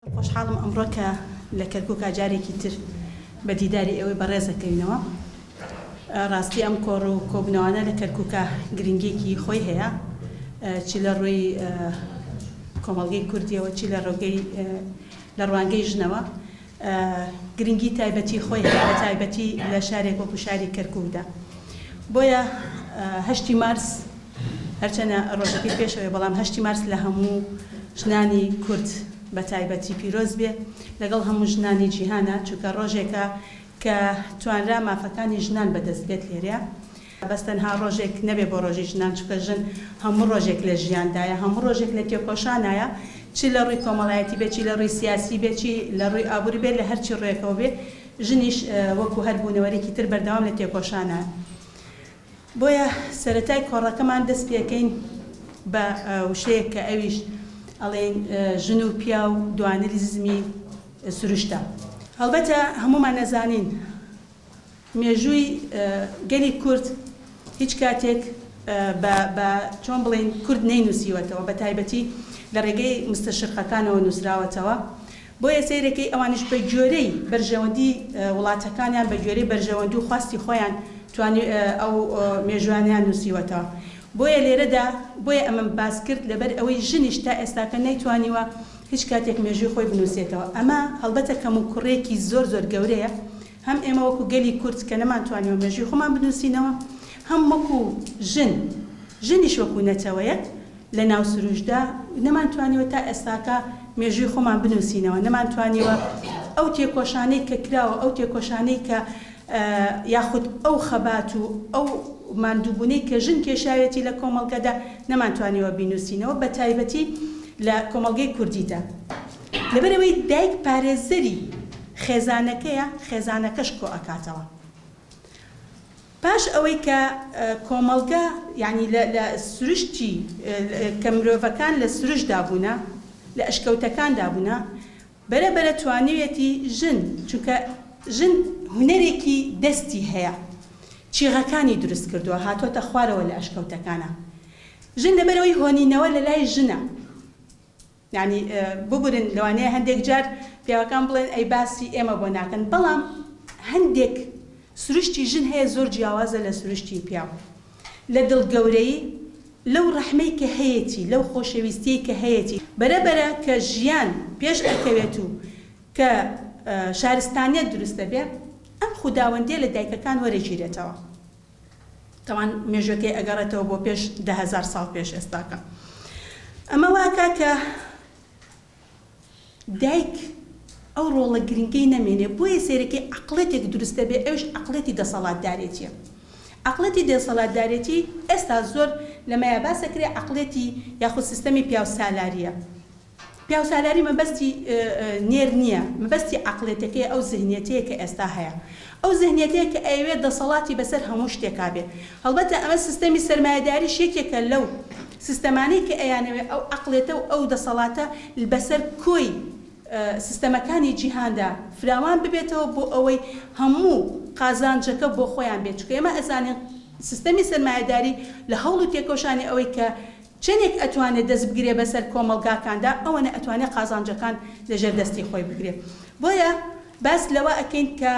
خۆشحاڵم ئەمڕۆ کە لە کەرکوکا جارێکی تر بە دیداری ئێوەی بەڕێز دەکەوینەوە. ڕاستی ئەم کۆڕ و کۆبنەوانە لە کەرکوکا گرنگیەکی خۆی هەیە چی لە ڕووی کۆمەڵگەی کوردیەوە چی لە ڕۆگەی لە ڕوانگەی ژنەوە گرنگی تایبەتی خۆی هەیە بە تایبەتی لە شارێک وەکو شاری کەرکوکدا. بۆیە هەشتی مارس هەرچەنە ڕۆژەکەی پێشەوەیە بەڵام هەشتی مارس لە هەموو ژنانی کورد بە تایبەتی پیرۆز بێ لەگەڵ هەموو ژنانی جیهانە چونکە ڕۆژێکە کە توانرا مافەکانی ژنان بە دەست بێت لێرە بەس تەنها ڕۆژێک نەبێ بۆ ڕۆژی ژنان چونکە ژن هەموو ڕۆژێک لە ژیاندایە هەموو ڕۆژێک لە تێکۆشانایە چی لە ڕووی کۆمەڵایەتی بێ چی لە ڕووی سیاسی بێ چی لە ڕووی ئابووری بێ لە هەرچی ڕووێکەوە بێ ژنیش وەکو هەر بوونەوەرێکی تر بەردەوام لە تێکۆشانە. بۆیە سەرەتای کۆڕەکەمان دەست پێکەین بە وشەیەک کە ئەویش ئەڵێین ژن و پیاو دوانریزمی سروشتە. هەڵبەتە هەموومان ئەزانین مێژووی گەلی کورد هیچ کاتێک بە بە چۆن بڵێین کورد نەینووسیوەتەوە بە تایبەتی لە ڕێگەی مستەشرقەکانەوە نووسراوەتەوە. بۆیە سەیرەکەی ئەوانیش بە گۆێرەی بەرژەوەندی وڵاتەکانیان، بە گۆێرەی بەرژەوەندی و خواستی خۆیان توانی ئەو مێژووانەیان نووسیوەتەوە. بۆیە لێرەدا بۆیە ئەمەم باس کرد لەبەر ئەوەی ژنیش تا ئێستاکە نەیتوانیوە هیچ کاتێک مێژووی خۆی بنووسێتەوە. ئەمە هەڵبەتە کەموکوڕییەکی زۆر زۆر گەورەیە هەم ئێمە وەکوو گەلی کورد کە نەمانتوانیوە مێژووی خۆمان بنووسینەوە، هەم وەکوو ژن، ژنیش وەکوو نەتەوەیەک لە ناو سروشدا نەمانتوانیوە تا ئێستاکە مێژووی خۆمان بنووسینەوە، نەمانتوانیوە ئەو تێکۆشانەی کە کراوە، ئەو تێکۆشانەی کە یاخود ئەو خەبات و ئەو ماندووبوونەی کە ژن کێشاویەتی لە کۆمەڵگەدا نەمانتوانیوە بینووسینەوە بە تایبەتی لە کۆمەڵگەی کوردیدا لەبەر ئەوەی دایک پارێزەری خێزانەکەیە خێزانەکەش کۆئەکاتەوە. پاش ئەوەی کە کۆمەڵگە یانی لە لە سروشتی کە مرۆڤەکان لە سروشتدا بوونە، لە ئەشکەوتەکاندا بوونە، بەرە بەرە توانیویەتی ژن، چونکە ژن هونەرێکی دەستی هەیە، چیغەکانی دروست کردووە، هاتۆتە خوارەوە لە ئەشکەوتەکانا. ژن لەبەرئەوەی هۆنینەوە لەلای ژنە، یانی ببورن لەوانەیە هەندێک جار پیاوەکان بڵێن ئەی باسی ئێمە بۆ ناکەن بەڵام هەندێک سروشتی ژن هەیە زۆر جیاوازە لە سروشتی پیاو لە دڵ گەورەی لەو ڕەحمەی کە هەیەتی لەو خۆشەویستیەی کە هەیەتی بەرە بەرە کە ژیان پێش ئەکەوێت و کە شارستانیەت دروست دەبێ ئەم خوداوەندیە لە دایکەکان وەرەگیرێتەوە. تاوان مێژووەکەی ئەگەڕێتەوە بۆ پێش دە هەزار ساڵ پێش ئێستاکە. ئەمە واکا کە دایک ئەو ڕۆڵە گرنگەی نەمێنێ، بۆیە سەیرەکەی عەقڵێتێک دروست دەبێ، ئەویش عەقڵێتی دەسەڵاتدارێتیە. عەقڵێتی دێسەڵاتدارێتی ئێستا زۆر لەمەیا باسەکرێ عەقڵێتی یاخود سیستەمی پیاوسالاریە. پیاوسالاری مەبەستی نێر نییە، مەبەستی عەقڵیەتەکەیە، ئەو زهنیەتەیە کە ئێستا هەیە. ئەو زهنیەتەیە کە ئەیەوێت دەسەڵاتی بەسەر هەموو شتێکا بێت. هەڵبەتە ئەمە سیستەمی سەرمایەداریش یەکێکە لەو سیستەمانەی کە ئەیانەوێت ئەو عەقڵیەتە و ئەو دەسەڵاتە بەسەر کۆی سیستەمەکانی جیهاندا فراوان ببێتەوە بۆ ئەوەی هەموو قازانجەکە بۆ خۆیان بێت، چونکە ئێمە ئەزانین سیستەمی سەرمایەداری لە هەوڵ و تێکۆشانی ئەوەی کە چەنێک ئەتوانێ دەست بگرێ بەسەر کۆمەڵگاکاندا ئەوەنە ئەتوانێ قازانجەکان لە ژێر دەستی خۆی بگرێ بۆیە باس لەوە ئەکەین کە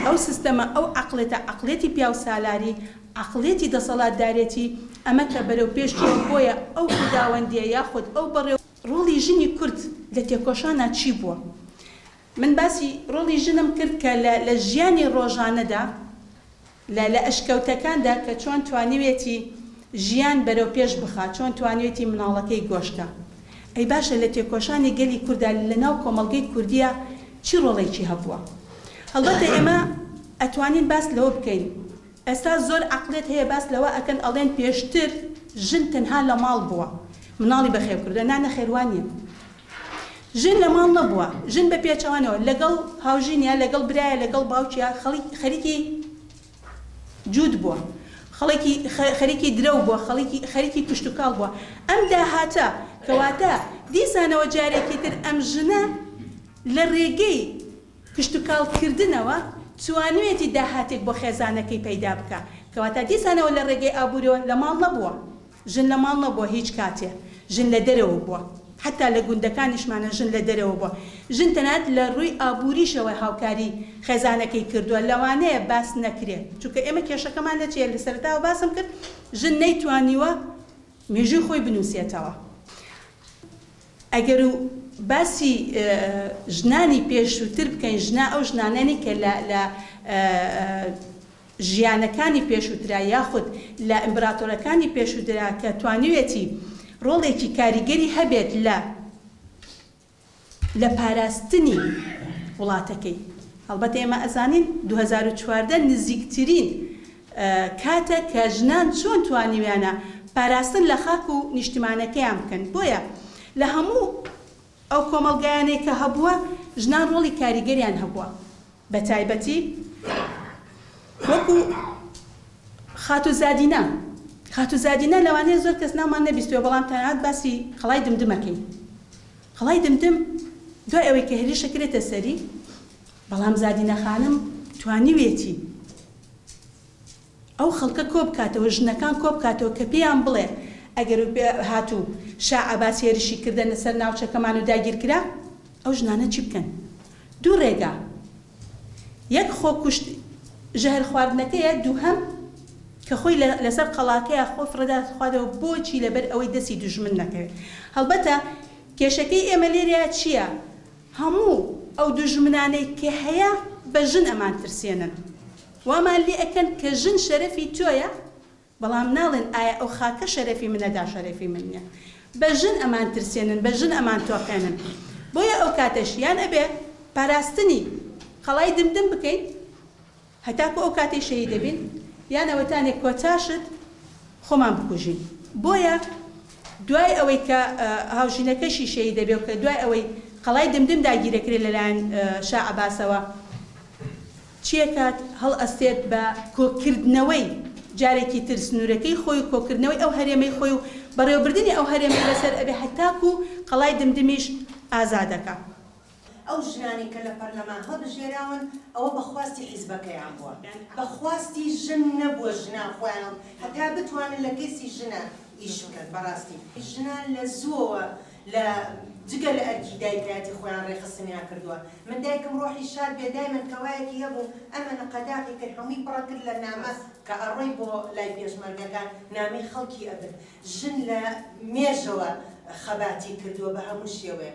ئەو سیستەمە ئەو عەقڵێتە عەقڵێتی پیاو سالاری عەقڵێتی دەسەڵات دارێتی ئەمە کە بەرەو پێش چووە بۆیە ئەو خوداوەندیە یاخود ئەو بەڕێو ڕۆڵی ژنی کورد لە تێکۆشانا چی بووە من باسی ڕۆڵی ژنم کرد کە لە لە ژیانی ڕۆژانەدا. لە لە ئەشکەوتەکاندا کە چۆن توانیوێتی ژیان بەرەو پێش بخا چۆن توانیوێتی مناڵەکەی گۆشکا ئەی باشە لە تێکۆشانی گەلی کوردا لە ناو کۆمەڵگەی کوردیا چی ڕۆڵێکی هەبووە هەڵبەتە ئێمە ئەتوانین باس لەوە بکەین ئێستا زۆر عەقڵێت هەیە باس لەوە ئەکەن ئەڵێن پێشتر ژن تەنها لە ماڵ بووە مناڵی بەخێو کردوە نا نەخێر وا نیە ژن لە ماڵ نەبووە، ژن بە پێچەوانەوە لەگەڵ هاوژینە، لەگەڵ برایە، لەگەڵ باوکیە، خەڵیک خەریکی جووت بووە، خەڵکی خەریکی درەو بووە، خەڵکی خەریکی کشتوکاڵ بووە. ئەم داهاتە کەواتە دیسانەوە جارێکی تر ئەم ژنە لە رێگەی کشتوکاڵ کردنەوە توانویەتی داهاتێک بۆ خێزانەکەی پەیدا بکا، کەواتە دیسانەوە لە رێگەی ئابوورەوە لە ماڵ نەبووە. ژن لە ماڵ نەبووە هیچ کاتێ ژن لە دەرەوە بووە حەتا لە گوندەکانیشمانە ژن لە دەرەوە بووە ژن تەنانەت لە ڕووی ئابووریشەوە هاوکاری خێزانەکەی کردووە لەوانەیە باس نەکرێ چونکە ئێمە کێشەکەمان لە چیە لە سەرەتاوە باسم کرد ژن نەیتوانیوە مێژووی خۆی بنووسێتەوە ئەگەر و باسی ژنانی پێشووتر بکەین ژنا ئەو ژنانەی کە لە ژیانەکانی پێشووترا یاخود لە ئیمبراتۆرەکانی پێشووترا کە توانیوێتی ڕۆڵێکی کاریگەری هەبێت لە لە پاراستنی وڵاتەکەی هەڵبەت ئێمە ئەزانین دوو هەزار و چواردە نزیکترین کاتە کە ژنان چۆن توانیویانە پاراستن لە خاک و نیشتمانەکەیان بکەن بۆیە لە هەموو ئەو کۆمەڵگایانەی کە هەبووە ژنان ڕۆڵی کاریگەریان هەبووە بە تایبەتی وەکو خاتوو زادینە خاتوو زادینە لەوانەیە زۆر کەس ناومان نەبیستوێ بەڵام تەنانەت باسی قەڵای دمدمەکەین قەڵای دمدم دوای ئەوەی کە هێرشە کرێتە سەری بەڵام زادینە خانم توانیوێتی ئەو خەڵکە کۆبکاتەوە، ژنەکان کۆبکاتەوە کە پێیان بڵێ ئەگەر و هات و شا عەباس هێرشی کردە سەر ناوچەکەمان و داگیرکرا، ئەو ژنانە چی بکەن؟ دوو رێگا، یەک خۆکوشت ژەهر خواردنەکەیە، دووهەم کە خۆی لە لەسەر قەڵاکەیا خۆی فڕێداتخواتەوە، بۆچی لەبەر ئەوەی دەستی دوژمن نەکەوێ. هەڵبەتە کێشەکەی ئێمە لێرەیا چیە؟ هەموو ئەو دوژمنانەی کە هەیە بە ژن ئەمانترسێنن. وامان لێ ئەکەن کە ژن شەرەفی تۆیە بەڵام ناڵێن ئایا ئەو خاکە شەرەفی منە دا شەرەفی من نیە بە ژن ئەمان ترسێنن بە ژن ئەمان تۆقێنن بۆیە ئەو کاتەش یان ئەبێ پاراستنی قەڵای دمدم بکەین هەتاکو ئەو کاتەی شەهید ئەبین یان ئەوەتانێ کۆتا شت خۆمان بکوژین بۆیە دوای ئەوەی کە هاوژینەکەشی شەهید ئەبێ و کە دوای ئەوەی قەڵای دمدم داگیر ئەکرێ لەلایەن شا عەباسەوە چیەکات؟ هەڵئەستێت بە کۆکردنەوەی جارێکی تر سنوورەکەی خۆی و کۆکردنەوەی ئەو هەرێمەی خۆی و بەڕێوەبردنی ئەو هەرێمەی بەسەر ئەبێ هەتاکوو قەڵای دمدمیش ئازادەکا. ئەو ژنانەی کە لە پەرلەمان هەڵبژێراون ئەوە بە خواستی حیزبەکەیان بووە بە خواستی ژن نەبووە ژنان خۆیان هەتا بتوانن لە کەیسی ژنان ئیش بکەن بەڕاستی ژنان لە زووەوە لە جگە لە ئەرکی دایکایەتی خۆیان ڕێکخستنیان کردووە من دایکم ڕۆحی شاد بێ دایمەن کەوایەکی هەبوو ئەمەنە قەداغی کرد هەمووی پڕە کرد لە نامە کە ئەڕۆی بۆ لای پێشمەرگەکە نامەی خەڵکی ئەبرد ژن لە مێژەوە خەباتی کردووە بە هەموو شێوەیە.